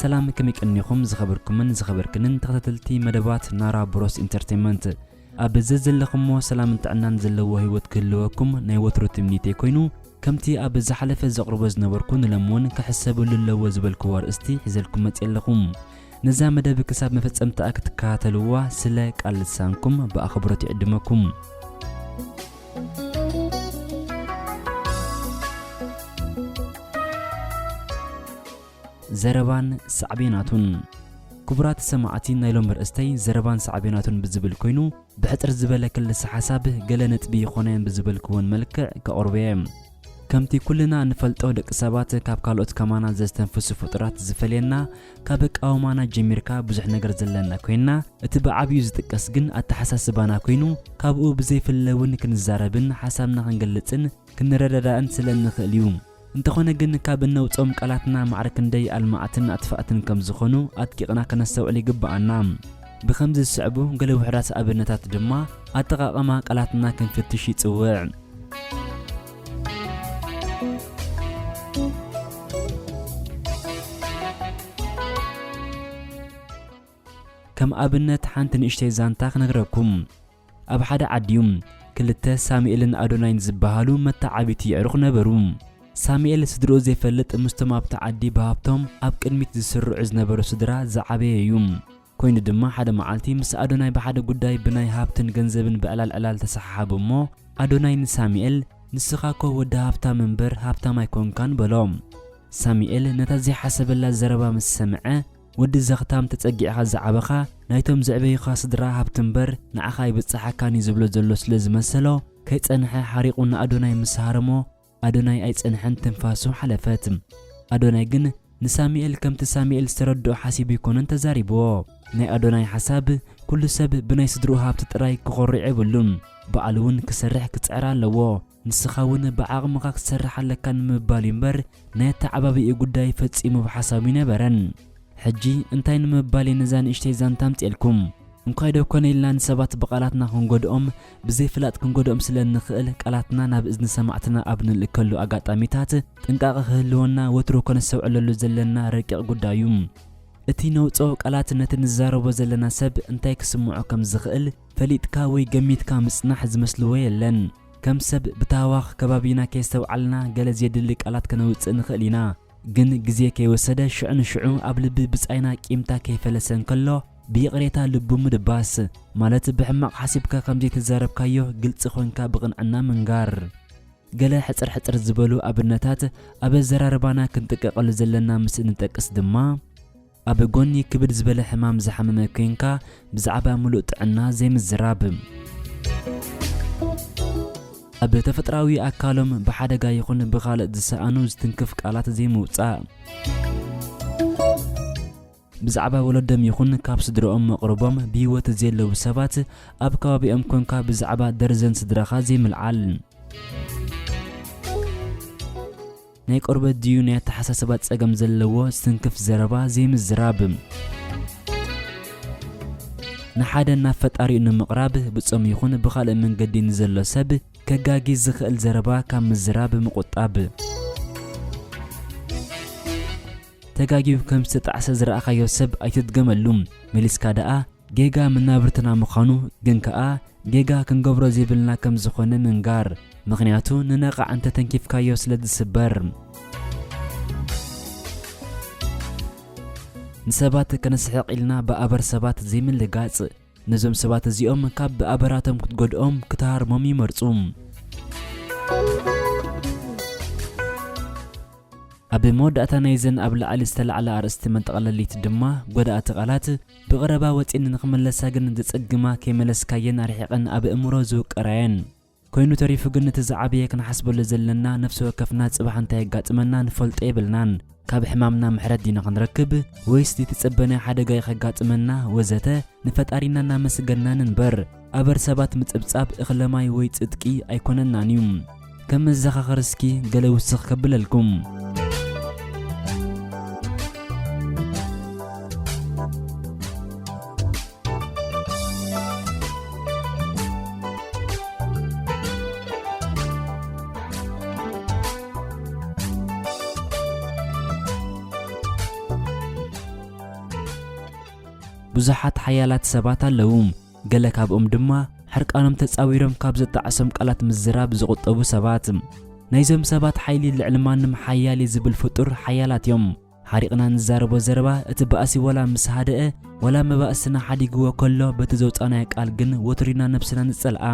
ሰላም ከመይ ቀኒኹም ዝኸበርኩምን ዝኸበርክንን ተኸታተልቲ መደባት ናራ ብሮስ ኢንተርቴንመንት ኣብ ዘዘለኹሞ ሰላምን ጥዕናን ዘለዎ ህይወት ክህልወኩም ናይ ወትሩ ትምኒተይ ኮይኑ ከምቲ ኣብ ዝሓለፈ ዘቕርቦ ዝነበርኩ ንሎም እውን ክሕሰብሉ ኣለዎ ዝበልክዎ ኣርእስቲ ሒዘልኩም መፅ ኣለኹም ነዛ መደብ ክሳብ መፈፀምታኣ ክትከታተልዋ ስለ ቃል ልሳንኩም ብኣኽብሮት ይዕድመኩም ዘረባን ሳዕቤናቱን ክቡራት ሰማዕቲ ናይ ሎሚ ርእስተይ ዘረባን ሳዕቤናቱን ብዝብል ኮይኑ ብሕጽር ዝበለ ክልሰ ሓሳብ ገለ ነጥቢ ይኾነ ብዝበልክዎን መልክዕ ከቕርብ እየ ከምቲ ኩልና እንፈልጦ ደቂ ሰባት ካብ ካልኦት ከማና ዘስተንፍሱ ፍጡራት ዝፈልየና ካብ ኣቃውማና ጀሚርካ ብዙሕ ነገር ዘለና ኮይንና እቲ ብዓብዩ ዝጥቀስ ግን ኣተሓሳስባና ኮይኑ ካብኡ ብዘይፍለ እውን ክንዛረብን ሓሳብና ክንገልፅን ክንረዳዳእን ስለ እንኽእል እዩ። እንተኾነ ግን ካብ እነውፅኦም ቃላትና ማዕረ ክንደይ ኣልማዕትን ኣጥፋእትን ከም ዝኾኑ ኣድቂቕና ከነስተውዕል ይግበኣና። ብኸምዚ ዝስዕቡ ገለ ውሑዳት ኣብነታት ድማ ኣጠቓቕማ ቃላትና ክንፍትሽ ይፅውዕ። ከም ኣብነት ሓንቲ ንእሽተይ ዛንታ ክነግረኩም ኣብ ሓደ ዓዲ ክልተ ሳሙኤልን ኣዶናይን ዝበሃሉ መተዓብይቲ የዕሩኽ ነበሩ። ሳሙኤል ስድርኡ ዘይፈልጥ ምስቶም ኣብቲ ዓዲ ብሃብቶም ኣብ ቅድሚት ዝስርዑ ዝነበሩ ስድራ ዝዓበየ እዩ። ኮይኑ ድማ ሓደ መዓልቲ ምስ ኣዶናይ ብሓደ ጉዳይ ብናይ ሃብትን ገንዘብን ብዕላል ዕላል ተሰሓሓቡ እሞ ኣዶናይ ንሳሚኤል ንስኻ እኮ ወዲ ሃብታም እምበር ሃብታም ኣይኮንካን በሎ። ሳሚኤል ነታ ዘይሓሰበላ ዘረባ ምስ ሰምዐ ወዲ ዘኽታም ተጸጊዕኻ ዝዓበኻ ናይቶም ዘዕበዩኻ ስድራ ሃብቲ እምበር ንዓኻ ኣይብጸሓካን እዩ ዝብሎ ዘሎ ስለ ዝመሰሎ ከይጸንሐ ሓሪቑ ንኣዶናይ ምስ ሃረሞ ኣዶናይ ኣይጸንሐን ትንፋሱ ሓለፈት። ኣዶናይ ግን ንሳሚኤል ከምቲ ሳሚኤል ዝተረድኦ ሓሲቡ ኣይኮነን ተዛሪብዎ። ናይ ኣዶናይ ሓሳብ ኩሉ ሰብ ብናይ ስድርኡ ሃብቲ ጥራይ ክኾርዕ የብሉን ባዕሉ ውን ክሰርሕ ክጽዕር ኣለዎ ንስኻ ውን ብዓቕምኻ ክትሰርሕ ኣለካ ንምባል እዩ እምበር ናይ ኣተዓባብይኡ ጉዳይ ፈጺሙ ኣብ ሓሳቡ ኣይነበረን። ሕጂ እንታይ ንምባል እየ ነዛ ንእሽተይ ዛንታ ኣምጺኤልኩም? እንኳይ ዶ ኮነ ኢልና ንሰባት ብቓላትና ክንጎድኦም ብዘይፍላጥ ክንጎድኦም ስለ እንኽእል ቃላትና ናብ እዝኒ ሰማዕትና ኣብ ንልእከሉ ኣጋጣሚታት ጥንቃቐ ክህልወና ወትሩ ከነስተውዕለሉ ዘለና ረቂቕ ጉዳይ እዩ። እቲ ነውጽኦ ቃላት ነቲ ንዛረቦ ዘለና ሰብ እንታይ ክስምዖ ከም ዝኽእል ፈሊጥካ ወይ ገሚትካ ምጽናሕ ዝመስልዎ የለን። ከም ሰብ ብታህዋኽ ከባቢና ከየስተውዓልና ገለ ዜድሊ ቃላት ከነውጽእ ንኽእል ኢና። ግን ግዜ ከይወሰደ ሽዑ ንሽዑ ኣብ ልቢ ብጻይና ቂምታ ከይፈለሰ እንከሎ ብይቕሬታ ልቡ ምድባስ ማለት ብሕማቕ ሓሲብካ ከም ዘይተዛረብካዮ ግልጺ ኮንካ ብቕንዕና ምንጋር። ገለ ሕጽር ሕጽር ዝበሉ ኣብነታት ኣብ ኣዘራርባና ክንጥቀቐሉ ዘለና ምስ እንጠቅስ ድማ፣ ኣብ ጎኒ ክብድ ዝበለ ሕማም ዝሓመመ ኮይንካ ብዛዕባ ምሉእ ጥዕና ዘይምዝራብ። ኣብ ተፈጥራዊ ኣካሎም ብሓደጋ ይኹን ብኻልእ ዝሰኣኑ ዝትንክፍ ቃላት ዘይምውጻእ። ብዛዕባ ወለዶም ይኹን ካብ ስድርኦም መቕርቦም ብህይወት ዘየለዉ ሰባት ኣብ ከባቢኦም ኮንካ ብዛዕባ ደርዘን ስድራኻ ዘይምልዓል። ናይ ቆርበት ድዩ ናይ ኣተሓሳስባ ጸገም ዘለዎ ስንክፍ ዘረባ ዘይምዝራብ። ንሓደ ናብ ፈጣሪኡ ንምቕራብ ብጾም ይኹን ብኻልእ መንገዲ ንዘሎ ሰብ ከጋጊ ዝኽእል ዘረባ ካብ ምዝራብ ምቑጣብ። ተጋጊዩ ከም ዝተጣዕሰ ዝረኣኻዮ ሰብ ኣይትድገመሉ፣ መሊስካ ደኣ ጌጋ መናብርትና ምዃኑ ግን ከኣ ጌጋ ክንገብሮ ዘይብልና ከም ዝኾነ ምንጋር። ምኽንያቱ ንነቓዕ እንተ ተንኪፍካዮ ስለ ዝስበር። ንሰባት ከነስሕቕ ኢልና ብኣበር ሰባት ዘይምልጋጽ። ነዞም ሰባት እዚኦም ካብ ብኣበራቶም ክትጎድኦም ክትሃርሞም ይመርጹ። ኣብ መወዳእታ ናይዘን ኣብ ላዕሊ ዝተላዕላ ኣርእስቲ መጠቕለሊት ድማ ጎዳእቲ ቃላት፣ ብቐረባ ወጺኤን ንኽመለሳ ግን ዘጸግማ ከይመለስካየን ኣርሒቐን ኣብ ኣእምሮ ዝውቀራየን። ኮይኑ ተሪፉ ግን እቲ ዝዓበየ ክንሓስበሉ ዘለና ነፍሲ ወከፍና ጽባሕ እንታይ የጋጥመና ንፈልጦ የብልናን ካብ ሕማምና ምሕረት ዲና ክንረክብ ወይስ ዘይተጸበናዮ ሓደጋ'ዩ ከጋጥመና ወዘተ ንፈጣሪና እናመስገንና ንንበር ኣበር ሰባት ምጽብጻብ እኽለ ማይ ወይ ጽድቂ ኣይኮነናን እዩ። ከም መዘኻኸሪ እስኪ ገለ ውስኽ ከብለልኩም። ብዙሓት ሓያላት ሰባት ኣለዉ። ገለ ካብኦም ድማ ሕርቃኖም ተጻዊሮም ካብ ዘጣዕሶም ቃላት ምዝራብ ዝቑጠቡ ሰባት። ናይዞም ሰባት ሓይሊ ልዕሊ ማንም ሓያል እዩ ዝብል ፍጡር ሓያላት እዮም። ሓሪቕና ንዛረቦ ዘረባ እቲ ባእሲ ወላ ምስ ሃደኣ ወላ መባእስና ሓዲግዎ ከሎ በቲ ዘውጻእናዮ ቃል ግን ወትሩ ኢና ነብስና ንጸልኣ።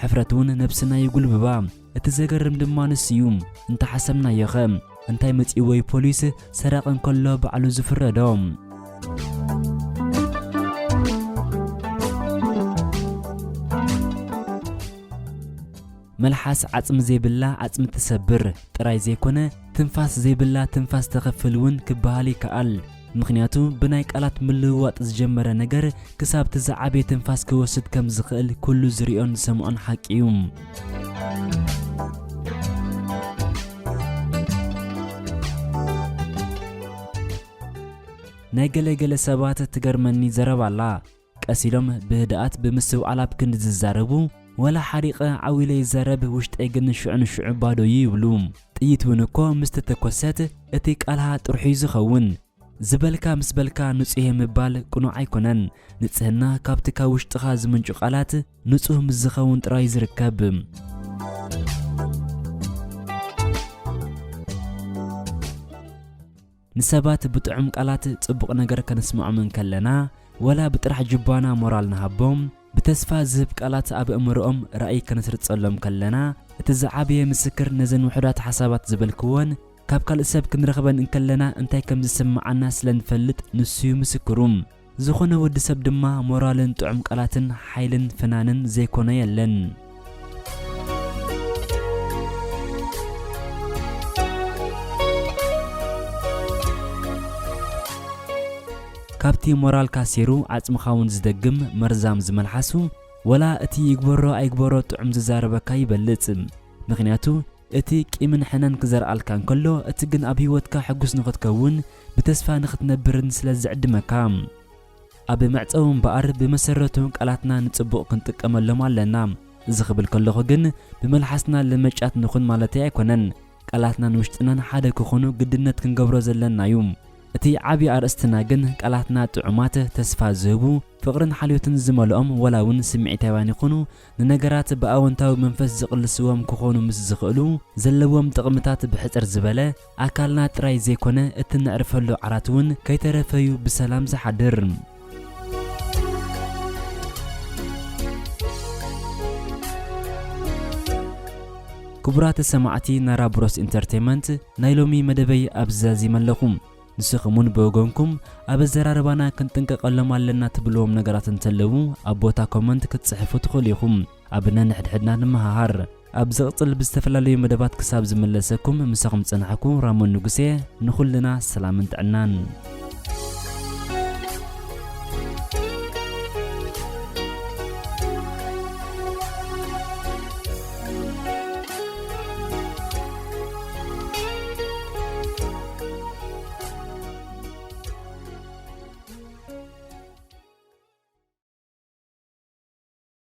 ሕፍረት እውን ነብስና ይጉልብባ። እቲ ዘገርም ድማ ንሱ እዩ። እንተሓሰብናዮ ከ እንታይ መጺእዎ እዩ ፖሊስ ሰራቂ እንከሎ ባዕሉ ዝፍረዶ? መልሓስ ዓጽሚ ዘይብላ ዓጽሚ ትሰብር ጥራይ ዘይኮነ ትንፋስ ዘይብላ ትንፋስ ተኽፍል እውን ክበሃል ይከኣል። ምኽንያቱ ብናይ ቃላት ምልውዋጥ ዝጀመረ ነገር ክሳብ እቲ ዝዓበየ ትንፋስ ክወስድ ከም ዝኽእል ኩሉ ዝሪኦን ዝሰምዖን ሓቂ እዩ። ናይ ገለ ገለ ሰባት ትገርመኒ ዘረባ ኣላ። ቀስ ኢሎም ብህድኣት ብምስትውዓል ኣብ ክንዲ ዝዛረቡ፣ ወላ ሓሪቐ ዓው ኢለ ይዛረብ፣ ውሽጠይ ግን ሽዑ ንሽዑ ባዶ'ዩ ይብሉ። ጥይት'ውን እኮ ምስ ተተኮሰት እቲ ቃልሃ ጥርሑ'ዩ ዝኸውን። ዝበልካ ምስ በልካ ንጹህ'የ ምባል ቅኑዕ ኣይኮነን። ንጽህና ካብቲ ካብ ውሽጥኻ ዝምንጩ ቃላት ንጹህ ምስ ዝኸውን ጥራይ'ዩ ዝርከብ። ንሰባት ብጥዑም ቃላት ጽቡቕ ነገር ከነስምዖም እንከለና፣ ዋላ ብጥራሕ ጁባና ሞራል ንሃቦም፣ ብተስፋ ዝህብ ቃላት ኣብ ኣእምሮኦም ራእይ ከነስርጸሎም ከለና፣ እቲ ዝዓበየ ምስክር ነዘን ውሑዳት ሓሳባት ዝበልክወን ካብ ካልእ ሰብ ክንረኽበን እንከለና እንታይ ከም ዝስምዓና ስለ ንፈልጥ ንሱ'ዩ ምስክሩ። ዝኾነ ወዲ ሰብ ድማ ሞራልን ጥዑም ቃላትን ሓይልን ፍናንን ዘይኮኖ የለን። ካብቲ ሞራልካ ሴሩ ዓጽምኻ እውን ዝደግም መርዛም ዝመልሓሱ ወላ እቲ ይግበሮ ኣይግበሮ ጥዑም ዝዛረበካ ይበልጽ ምክንያቱ እቲ ቂምን ሕነን ክዘርኣልካ እንከሎ እቲ ግን ኣብ ሂወትካ ሕጉስ ንኽትከውን ብተስፋ ንኽትነብርን ስለ ዝዕድመካ። ኣብ መዕጸዊ እምበኣር ብመሰረቱ ቃላትና ንጽቡቕ ክንጥቀመሎም ኣለና። እዚ ክብል ከለኹ ግን ብመልሓስና ለመጫት ንኹን ማለተይ ኣይኮነን። ቃላትናን ውሽጥናን ሓደ ክኹኑ ግድነት ክንገብሮ ዘለና እዩ። እቲ ዓቢ ኣርእስትና ግን ቃላትና ጥዑማት፣ ተስፋ ዝህቡ፣ ፍቕርን ሓልዮትን ዝመልኦም ዋላ እውን ስምዒታውያን ይኹኑ ንነገራት ብኣወንታዊ መንፈስ ዝቕልስዎም ክኾኑ ምስ ዝኽእሉ ዘለዎም ጥቕምታት ብሕጽር ዝበለ ኣካልና ጥራይ ዘይኮነ እቲ ነዕርፈሉ ዓራት እውን ከይተረፈ'ዩ ብሰላም ዝሓድር። ክቡራት ሰማዕቲ ናራ ብሮስ ኢንተርተይመንት ናይ ሎሚ መደበይ ኣብዚ ዛዚመ ኣለኹ። ንስኹም እውን ብወገንኩም ኣብ ኣዘራርባና ክንጥንቀቐሎም ኣለና ትብልዎም ነገራት እንተለዉ ኣብ ቦታ ኮመንት ክትጽሕፉ ትኽእሉ ኢኹም። ኣብ ነንሕድሕድና ንመሃሃር። ኣብ ዝቕጽል ብዝተፈላለዩ መደባት ክሳብ ዝምለሰኩም ምሳኹም ዝጸናሕኩ ራሞን ንጉስ እየ ንኹልና ሰላምን ጥዕናን